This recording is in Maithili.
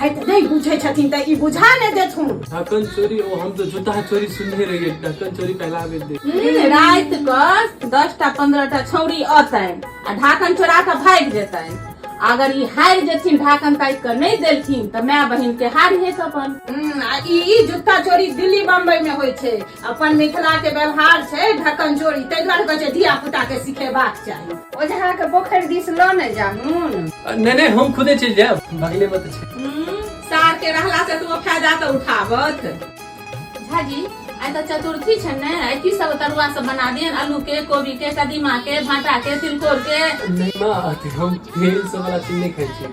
है तऽ नहि बुझै छथिन तऽ ई बुझा नहि देथुन ढक्कन चोरी ओ हम तो जूता चोरी सुनने रहिए ढक्कन चोरी पहला बेर दे हम्म, राति कऽ दस टा पंद्रह टा छौरी अतैन आ ढाकन चोरा कऽ भागि जेतैन अगर ई हारि जेथिन ढाकन ताकि कऽ नहि देलथिन तऽ माय बहिन के हार हेत अपन हम्म, आ ई ई जूता चोरी दिल्ली बम्बई में होइ छै अपन मिथिला के व्यवहार छै ढक्कन जोड़ी ताहि दुआरे कहै छै धिया पुता के सिखेबाक चाही ओझा के पोखरि दिस लऽ ने जाहुन नहि नहि हम खुदे चलि जायब बगले मे तऽ छै हम्म, सार के रहला से तू फायदा तऽ उठाबत झाजी आइ तऽ चतुर्थी छै ने आइ की सब तरुआ सब बना दियन आलू के कोबी के कदीमा के भाटा के तिलकोर के नहि माँ अथी हम तेल सब वाला चीज नहि खाइ छी